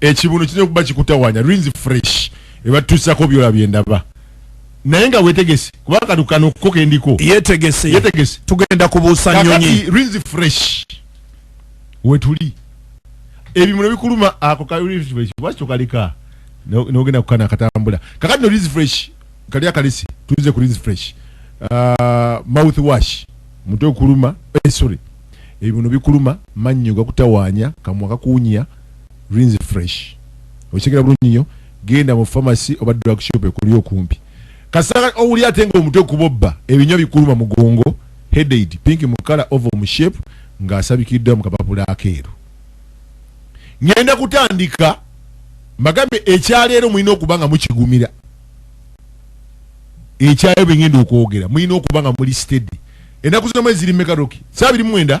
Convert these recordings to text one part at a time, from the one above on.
ekibuno kirina okuba kikutawanya rins fresh ebatutusako byola byendaba naye nga wetegese kubanga kano kano ko kendiko yetegese yetegese tugenda kubuusa nyonyi rins fresh wetuli ebimuno bikuluma ako ka rins fresh lwaki tokaleka nogenda kukana akatambula kakati no rins fresh kali akalisi tuze ku rins fresh uh, mouth wash mutwe okuluma eh, sorry ebibuno bikuluma mannyo gakutawanya kamwa kakuunya Rinse Fresh. Okitegera bulungi nyo. Genda mu pharmacy oba drug shop ekuli okumpi. Kasanga owuli ate nga omutwe kubobba, ebinywa bikuluma mugongo, headaid, pink mu kala, oval mu shape nga asabikiddwa mu kapapula akeeru. Ngenda kutandika mbagambye ekyaleero mulina okuba nga mukigumira. Ekyayo bengenda okwogera mulina okuba nga muli steady. Enaku zino mwezi ziri meka Roki? Saa biri mwenda?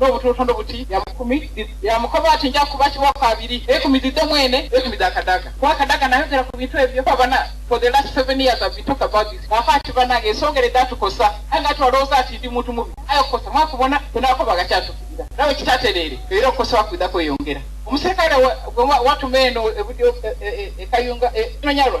n'obutonotono buti bya mukumi bya mukoba ati nja kuba kiwa kabiri ekumi zidde mwene ekumi za kadaga kuba kadaga nayogera ku bintu ebyo abana for the last seven years I've been talking about this nafa ati banange esongera edatukosa aye nga twalowooza ati ndi muntu mubi aye okukosa mwakubona tenako bagakyatuukirira nawe kitatereere era okukosa wakwidha kweyongera omuserikale watuma eno ekayunga e, e, e, enonyalwa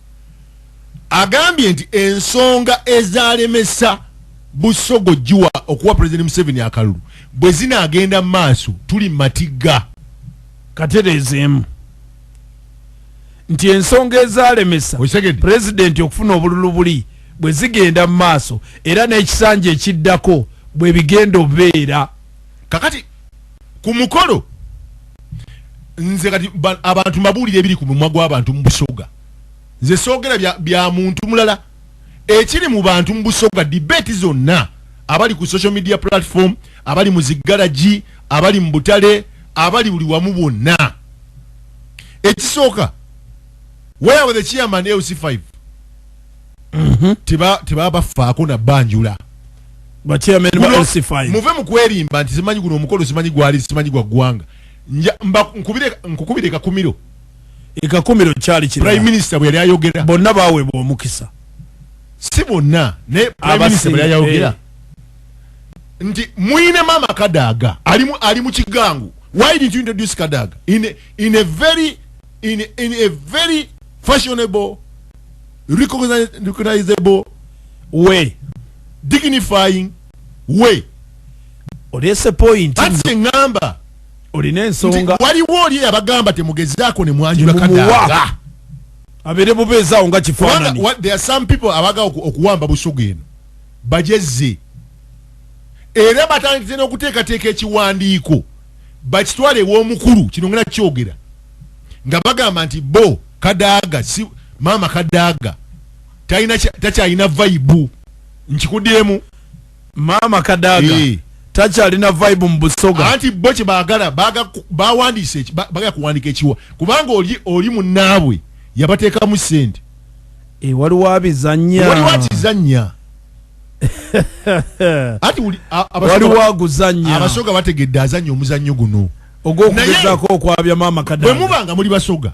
agambye nti ensonga ezalemesa busogo giwa okuwa pulezidenti museveni akalulu bwe zinaagenda mu maaso tuli matigga katereezeemu nti ensonga ezalemesa pulezidenti okufuna obululu buli bwe zigenda mu maaso era n'ekisanja ekiddako bwe bigenda obeera kakati ku mukolo nze kati abantu mbabuulira ebiri ku mumwa gw'abantu mu busoga nze soogera bya, bya muntu mulala ekiri mu bantu mu busoga debate zonna abali ku social media platform abali mu ziggalagi abali mu butale abali buli wamu bwonna ekisooka where were the chairman lc 5 mm -hmm. tebabafaako nabanjula muve mu kwerimba nti simanyi guno omukolo simanyi gwali simanyi gwa ggwanga nkukubire kakumiro ekakumiro kyali kiri prime minister bwe yali ayogera bonna baweebwa omukisa si bonna naye prime minister bwe yali ayogera eh. nti mwine mama kadaga ali mu ali mu kigangu why did you introduce kadaga in a, in a very in a, in a very fashionable recognizable way dignifying way olese point kati ngamba olina ensonga waliwo oli abagamba temugezaako ne mwanjula kadaga abere bubezawo nga kifanani there are some people abaga okuwamba busugu eno bajezze era batandise n'okuteekateeka ekiwandiiko bakitwale ew'omukulu kino ngena kyogera nga bagamba nti bo Kadaga si mama Kadaga talina takyalina vibe nkikudyemu mama Kadaga hey. Eh. takyalina vibe mu busoga anti bo kye baagala bawandiise bagala kuwandika ekiwa kubanga oli oli munnaabwe yabateekamu sente eh, waliwo abizanya waliwo akizanya ati waliwo aguzanya abasoga bategedde azanya omuzannyo guno ogw'okugezako okwabya maama kadaaga bwe muba nga muli basoga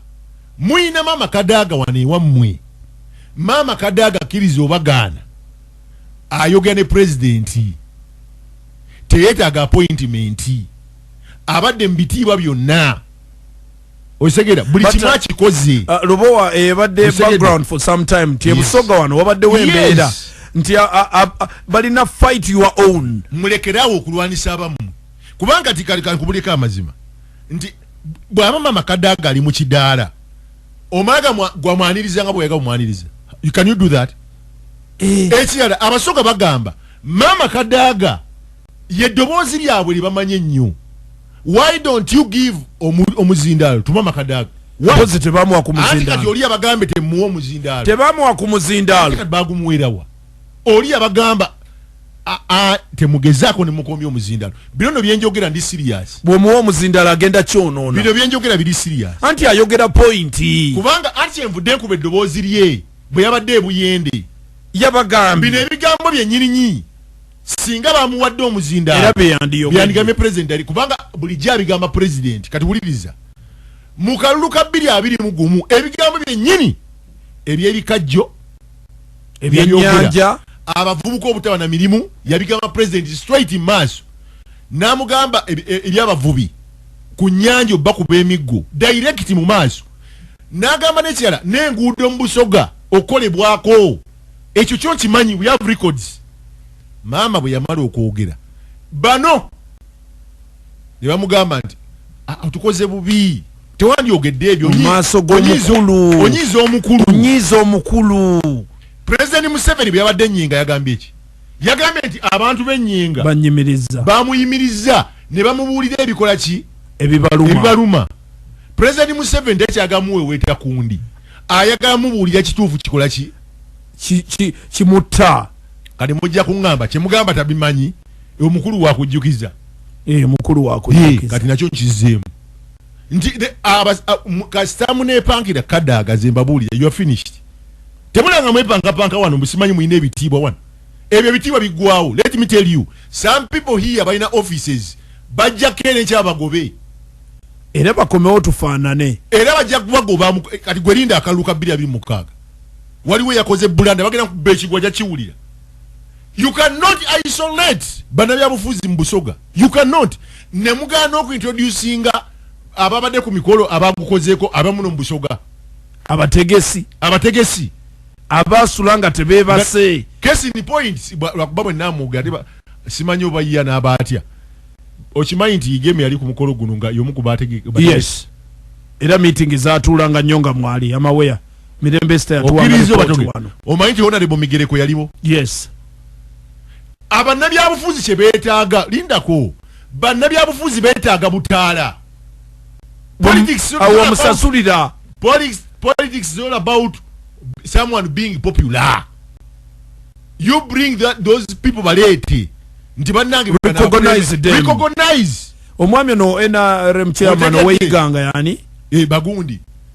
muyina maama kadaaga wano ewammwe maama kadaaga akkiriza obagaana ayogera ne pulezidenti teyeetaaga apointimenti abadde mu bitiibwa byonna osegera buli kimu uh, akikoze uh, lubowa ebadde eh, background for some time ti ebusoga wano wabaddewo embeera nti uh, balina fight your own mulekerawo okulwanisa abamu kubanga tikalikubulika amazima nti bwaba mama kadaga ali mukidaala omalaga gwamwaniriza nga bweyagala omwaniriza can you do that eh. ekirala abasoga bagamba mama kadaga ye ddoboozi lyabwe lyebamanyi ennyo why don't you give omuzindaalo to mama kadaga mpozi tebamuwa ku muzindaalo tebamuwa ku muzindaalo bagumuwerawa oli yabagamba temugezaako nemukomya omuzindalo bino no byenjogera ndi serious bwomuwa omuzindalo agenda kyonoona bino byenjogera biri serious anti ayogera pointi kubanga ati envudde nkuba eddoboozi lye bwe yabadde ebuyende yabagambye bino ebigambo byenyirinyi singa bamuwadde omuzindaloyandigambye president ali kubanga bulijjo abigamba president kati wuliriza mu kalulu ka bbiri abiri mu gumu ebigambo byennyini ebyebikajjo ebyenyanja abavubuka obutaba na mirimu yabigamba president straight in maaso n'amugamba ebyabavubi ku nyanja oba kuba emiggo direct mu maaso n'agamba n'ekirala n'enguudo mu busoga okukolebwako ekyo kyo nkimanyi we have records maama bwe yamala okwogera bano ne bamugamba nti ah, tukoze bubi tewandyogedde ebyo mumaaso gomukulu onyiiza omukulu onyiiza omukulu president museveni byabadde enyinga yagambye eki yagambye nti abantu benyinga banyimiriza bamuyimiriza ne bamubuulira ebikola ki ebibaluma ebibaluma president museveni tekyagamuweweeta kundi ayagala mubuulira kituufu kikola ki kimutta kati mujja kuŋŋamba kyemugamba tabimanyi omukulu wakujjukiza eh, mukulu wakujjukiza kati nakyo nkizzeemu nti kasita munepangira kadaaga ze mbabuulire you are finished temulanga mwepankapanka wano musimanyi mulina ebitiibwa wano ebyo ebitiibwa biggwawo let me tell you some people here balina offices bajja keera enkyabagobe era bakomewo tufaanane era bajja kubagoba kati gwerinda akalulu ka bbiri abiri mukaaga waliwo eyakoze bulanda bagenda kubba ekigwa jakiwulira you cannot isolate banabyabufuzi mu busoga you cannot nemugaana okuintroducinga ababadde ku mikolo abagukozeeko abamuno mu busoga abategesi abategesi abasula nga tebebase kesi ni points lwakuba bwe namuga ate simanyi oba yiya n'aba atya okimanyi nti igemi yali ku mukolo guno nga yomu ku bategesi era meeting zatuulanga nnyo nga mwali amaweya mirembe sita yatuwangaliwano omanyi nti onalebo migereko yaliwo yes abannabyabufuzi kye beetaaga lindako bannabyabufuzi beetaaga butaala awomusasulira politics is all about someone being popular you bring that, those people baleete nti bannange omwami ono nrm chairman oweyiganga yani eh, bagundi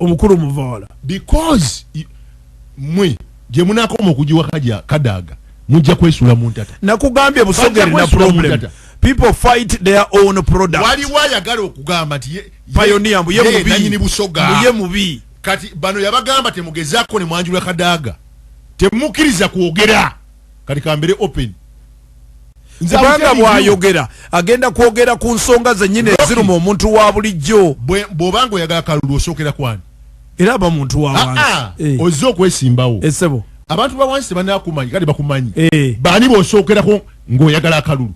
obukulu muvoola because mwe gye munaakoma okugiwa kaja kadaaga mujja kwesula mu ntata nakugambye busogere na problem people fight their own product waliwo ayagala okugamba nti payoniya mbuye mubiyini busoga mbuye mubi kati bano yabagamba temugezaako ne mwanjula kadaaga temukkiriza kwogera kati kambere open kubanga bwayogera agenda kwogera ku nsonga zenyini eziruma omuntu wa bulijjo bwoba nga oyagala kalulu osookera kwani era aba muntu wawansi ah, ah. eh. ozze okwesimbawo esebo eh, abantu bawansi tebanakumanyi kati bakumanyi eh. baani bosookerako ng'oyagala akalulu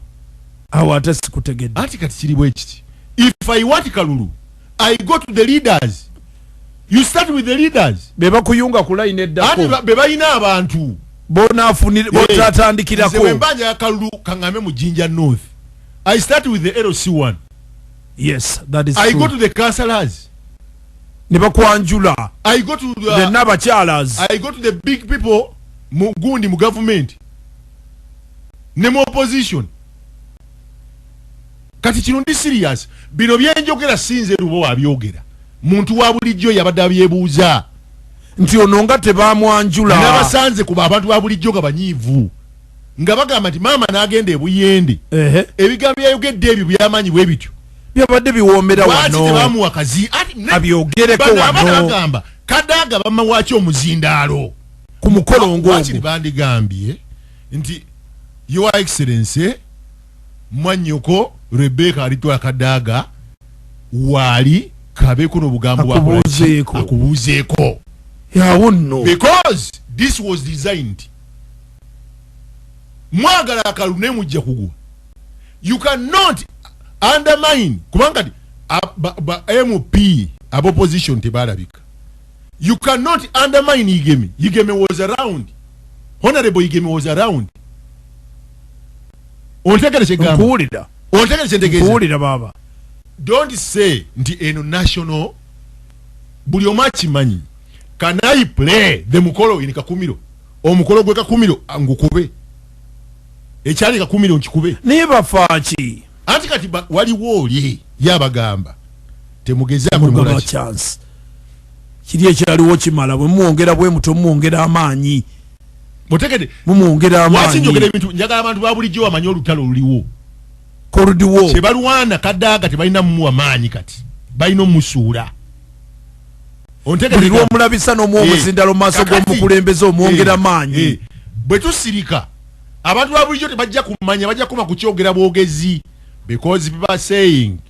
awo ate sikutegedde anti kati kiri bwekiti if i want kalulu i go to the leaders you start with the leaders bebakuyunga ku line eddako ate bebalina abantu bona afunire botatandikirako nze wembanja yakalulu kangame mu jinja north i start with the lc1 yes that is i true. go to the councillors nebakwanjula i go to the, the nabachalas i go to the big people mugundi mu government ne mu opposition kati kino ndi serious bino byenjogera sinze lubo abyogera muntu wa bulijjo yabadde abyebuuza nti ono nga tebamwanjula nabasanze kuba abantu ba bulijjo nga banyiivu nga bagamba nti maama n'agenda ebuyende ebigambo byayogedde ebyo byamaanyi bwe bityo byabadde biwoomera wanotebamuwa kazi abyogereko wanobagamba kadaaga bamawaki omuzindaalo ku mukolo ngoogu bandigambye nti your excellency mwanyoko rebeka alitwala kadaaga waali kabeko nobugambo akubuuzeeko yawo nno because this was designed mwagala akalu naye mujja kugwa you cannot undermine kubanga ti mp ab opposition tebalabika you cannot undermine igeme igeme was around honorable igeme was around ontegere kyegamba nkuwulira ontegere kyentegeeza nkuwulira baaba don't say nti eno national buli omu akimanyi can i play the mukolo in kakumiro omukolo gwe kakumiro ngukube ekyali kakumiro nkikube naye bafaaki anti kati waliwo oli yabagamba temugezaako chance kiri ekyaliwo kimala bwe mumwongera bwe mutyo mumwongera amaanyi mutegede mumwongera amaanyi lwaki njogera ebintu njagala abantu ba bulijjo bamanye olutalo oluliwo koludiwo kye balwana kadaaga tebalina mumuwa maanyi kati balina omusuula buli lwomulabisa nomuwa eh, omuzindalo mu maaso g'omukulembeze omwongera eh, maanyi eh, bwe tusirika abantu ba bulijjo tebajja kumanya bajja kuma kukyogera bwogezi because people are saying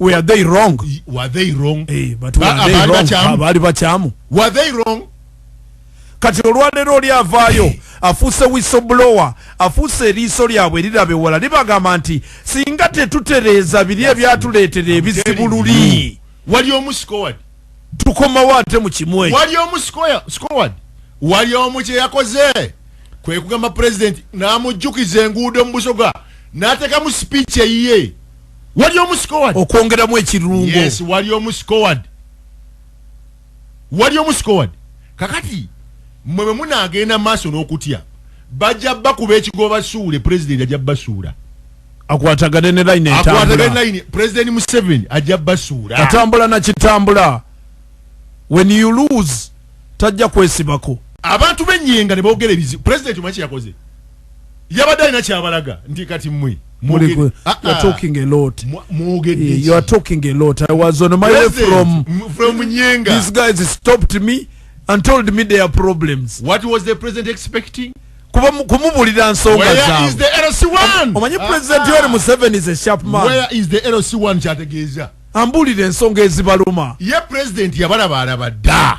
we are they wrong were they wrong hey, eh, but we are they wrong bali bachamu were they wrong kati olwaleero oli avaayo afuuse wisoblower afuuse eriiso lyabwe erirabe wala libagamba nti singa tetutereeza biri ebyatuleetera ebizibu luli wali omu scoward tukomawo ate mu kimu eyo wali omu scoward wali omu kye yakoze kwe kugamba pulezidenti n'amujjukiza enguudo mu busoga n'ateekamu sipiiki eyiye wali omusikoad okwongeramu ekirungo yes wali omusikoad wali omusikoad kakati mwe bwe munaagenda maaso n'okutya bajja bakuba ekigo basuule pulezidenti ajja basuula akwatagane ne line akwatagane line president Museveni ajja basura atambula na kitambula when you lose tajja kwesibako abantu benyenga nebogera ebizibu president mwaki yakoze yabadde alina kyabalaga nti kati mwe mwogedde ah, kumubulira nsonga zaomanye president yori museveni is a sharp man kyategeeza ambuulire ensonga ezibaluma. Ye president yabalabaalaba ddaa.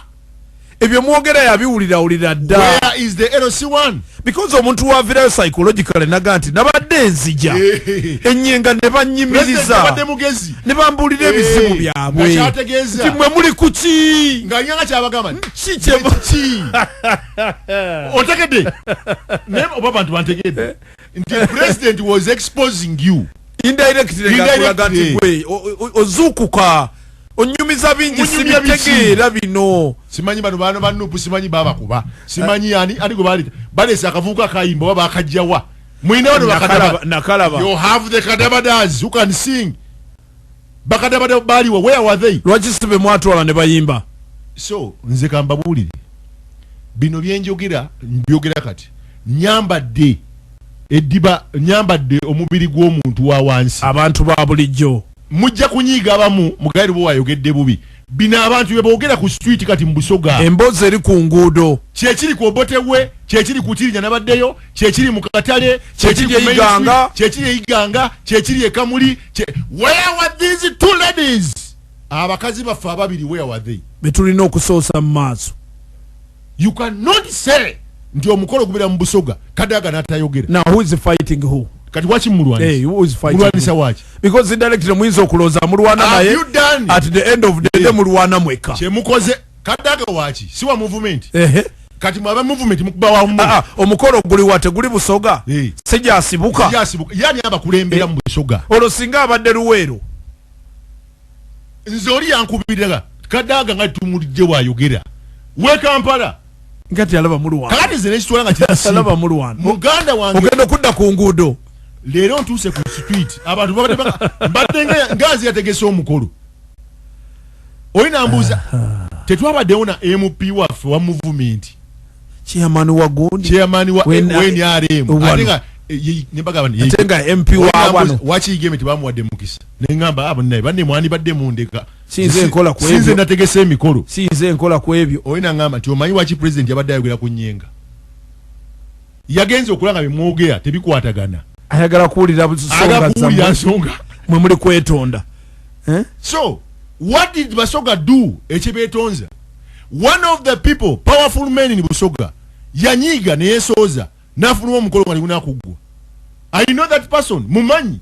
Ebyo mwogera yabiwulirawulira dda. Where is the LC1? Because omuntu wavirayo psychologically naga nti nabadde nzija enyenga ne bannyimiriza ne bambuulira ebizibu eh, byabwe nti mwe muli ku ki otegedde naye oba bantu bantegedde eh. nti president was exposing you indirectly ngakulaga nti gwe ozuukuka onyumiza bingi sibitegeera bino simanyi bano baana ba nupu simanyi babakuba simanyi yani ani gwe baleta balesa akavuuka akayimba oba bakajjawa mwina bano bakadaba nakalaba you have the kadabadazi who can sing bakadabada baliwa where were they lwaki sibe mwatwala ne bayimba so nze kambabuulire bino byenjogera mbyogera kati nyambadde eddiba nyambadde omubiri gw'omuntu wa wansi abantu ba bulijjo mujja kunyiiga abamu mugaire bwe wayogedde bubi bino abantu bye boogera ku street kati mu busoga emboozi eri ku nguudo kyekiri ku obote we kyekiri ku kirinya nabaddeyo kyekiri mu katale kyekiri ku kyekiri eyiganga kyekiri ekamuli where were these two ladies abakazi baffe ababiri where were they betulina okusoosa mu maaso you cannot say nti omukolo gubeera mu busoga kadaga natayogera now who is fighting who kati waki mulwanisa waki because directly muyinza okulooza mulwana naye at the end of the day mulwana mweka kyemukoze kadaga waki siwa movement ehe kati mwaba movement mukuba wa mu ah, ah, omukolo guli wate guli busoga eh. sija asibuka sija asibuka yani aba kulembera eh. mu busoga olo singa abadde luwero nzori yankubirira kadaga nga tumulije wa yogera we kampala ngati alaba mu rwanda kati zene chitwala nga chitasi alaba mu rwanda muganda wange ogenda kudda ku ngudo lero ntuse ku street abantu babadde mbadde nga ngazi yategese omukolo oli nambuuza tetwabaddewo na mp waffe wa muvumenti chairman wa gundi chairman wa nrm ate nga eh, nebagaba ate nga mp wa wano waki igeme tebamuwadde mukisa ne ngamba abo naye banne mwani badde mundeka sinze nkola ku ebyo sinze nategese emikolo sinze nkola ku ebyo oyina ngamba nti omanyi waki president yabadde ayogera ku nyenga yagenze okulaba nga bye mwogera tebikwatagana ayagala kuwulira aga kuwulira nsonga mwe muli kwetonda eh? so what did basoga do ekibetonza one of the people powerful men in busoga yanyiiga neyesooza nafuluma omukolo nga nigunakuggwa i know that person mumanyi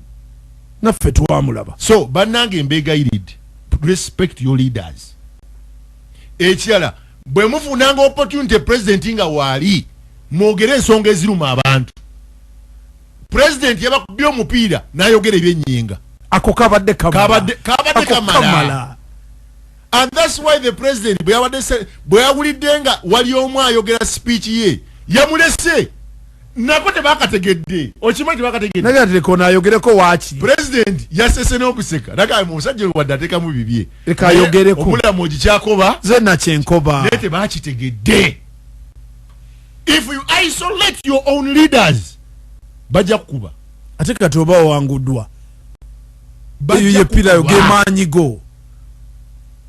naffe twamulaba so bannange mbegayiridde respect your leaders ekirala Bwe mufunanga opportunity president nga waali mwogere ensonga eziruma abantu. President yabakubye omupiira n'ayogera ebyennyinga. Ako kabadde kamala. Kabadde kamala. And that's why the president bwe yabadde bwe yawulidde nga wali omu ayogera speech ye yamulese nako tebakategedde okimanyi tebakategedde naye ati leka onaayogereko waaki president yasese n'okuseka naga musajja wadde ateekamu bibye leka ayogereko obulamu ogikyakoba ze nakyenkoba naye tebakitegedde if you isolate your own leaders bajja kukuba ate kati oba owanguddwa eyo yepirayo gemaanyi go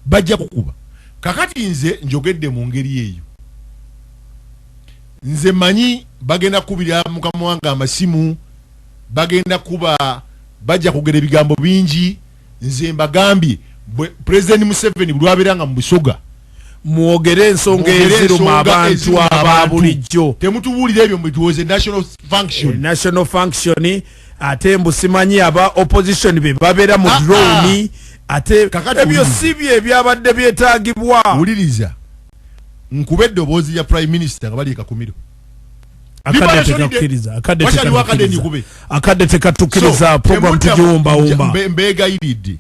bajja kukuba kakati nze njogedde mu ngeri eyo nze manyi bagenda kukubira mukama wange amasimu bagenda kuba bajja kugera ebigambo bingi nze mbagambye president museveni bulwabeera nga mubusoga mwogere ensonga eziruma abantu ababulijjo temutubuulira ebyo mbiwoze national function eh, national function ate mbusimanyi aba opposition be babeera mu ah, ah. drone ate ebyo si bye ebyabadde byetagibwa wuliriza nkube eddoboozi ya prime minister nga bali ekakumiro akadde tekakkiriza akadde tekakkiriza akadde tekatukiriza program tugiwumba wumba mbegayiridde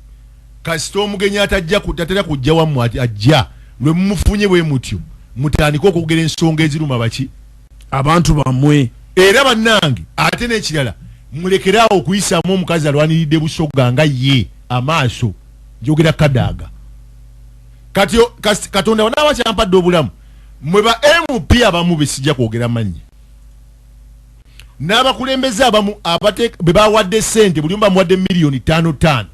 kasita omugenyi atajja kutatera kujja wamwe ajja lwe mumufunye bwe mutyo mutandike okwogera ensonga eziruma baki abantu bamwe era bannange ate n'ekirala mulekeraawo okuyisaamu omukazi alwaniridde busoga nga ye amaaso njogera kadaaga kati katonda wanaaba kyampadde obulamu Mwe ba MP abamu besijja kwogera mannya n'abakulembeze abamu be bawadde ssente buli omu bamuwadde miliyoni ttaano ttaano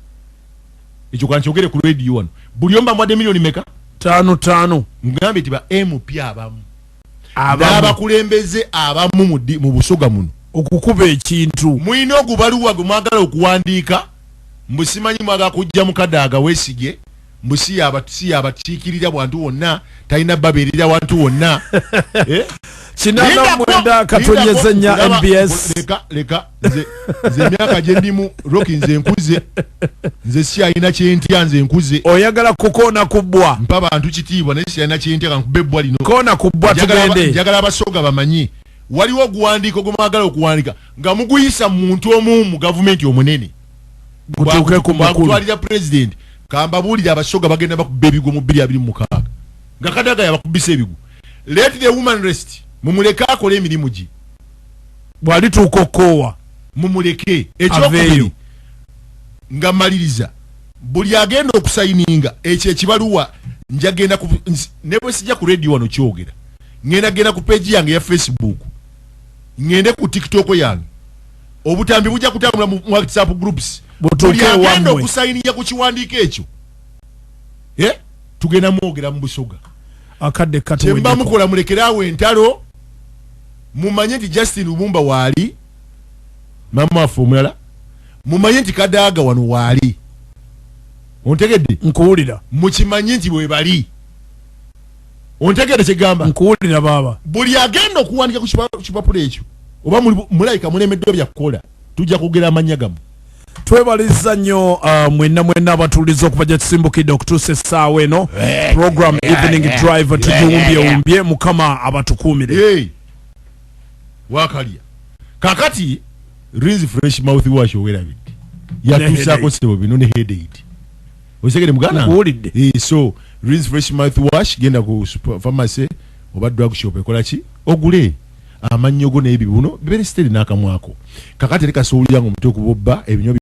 ekyo kankyogere ku rediyo wano buli omu bamuwadde miliyoni meka ttaano ttaano ngambye nti ba MP abamu n'abakulembeze abamu mu busoga muno okukuba ekintu mulina ogubaluwa gwe mwagala okuwandiika mbusimanyi mwagala kujja mukadaaga weesige mbu si yabakiikirira bwantu wonna talina babeerera wantu wonna eh? kinana mwenda katonyeze nya mbs leka leka nze nze myaka gye ndimu roki nze nkuze nze siyalina kyentya nze nkuze oyagala kukoona kubbwa mpa bantu kitiibwa naye siyalina kyentya kankubba ebbwa lino koona kubbwa tugende njagala abasooga bamanyi waliwo oguwandiiko gwe mwagala okuwandika nga muguyisa mu muntu omu mu gavumenti omunene mutuuke ku mukulutwalira president kambabuulire abasoga bagenda bakuba ebigwo mu bbiri abiri mukaaga nga kadaga yabakubisa ebigwo let the woman rest mumuleke akole emirimu gye bwalituuka okukoowa mumuleke ekyokubiri nga maliriza buli agenda okusayininga ekyo ekibaluwa njagenda nebwesijja ku radio wano kyogera ngenda genda ku peji yange ya facebook ngende ku tiktok yange obutambi bujja kutambula mu whatsapp groups buli agenda okusayiniya ku kiwandiiko ekyo eh? tugenda mwogera mu busoga akadde katemba mukola mulekere awo entalo mumanye nti justin lubumba waali mama waffe omulala mumanye nti kadaaga wano waali ontegedde nkuwulira mukimanye nti bwebali ontegede kyegamba nkuwulira baaba buli agenda okuwandika ku kipapula ekyo oba mulayika mulemeddwa byakukola tujja kugera amannya gamu twebaliza nnyo uh, mwena mwena abatuliza okuva gyatusimbukidde okutuusa essaawa eno eh, program eh, evening eh, drive tugiwumbyewumbye mukama abatukuumire wakalya kakati rinzi fresh mouth wash owerabidde yatuusaako sebo bino ne headaid osegere mugana kuwulidde eh, so rinse fresh mouth wash genda ku pharmacy oba drug shop ekola ki ogule amannyo go n'ebibuno bibeere siteri n'akamwako kakati leka sowulira nga omutwe okubobba ebinywa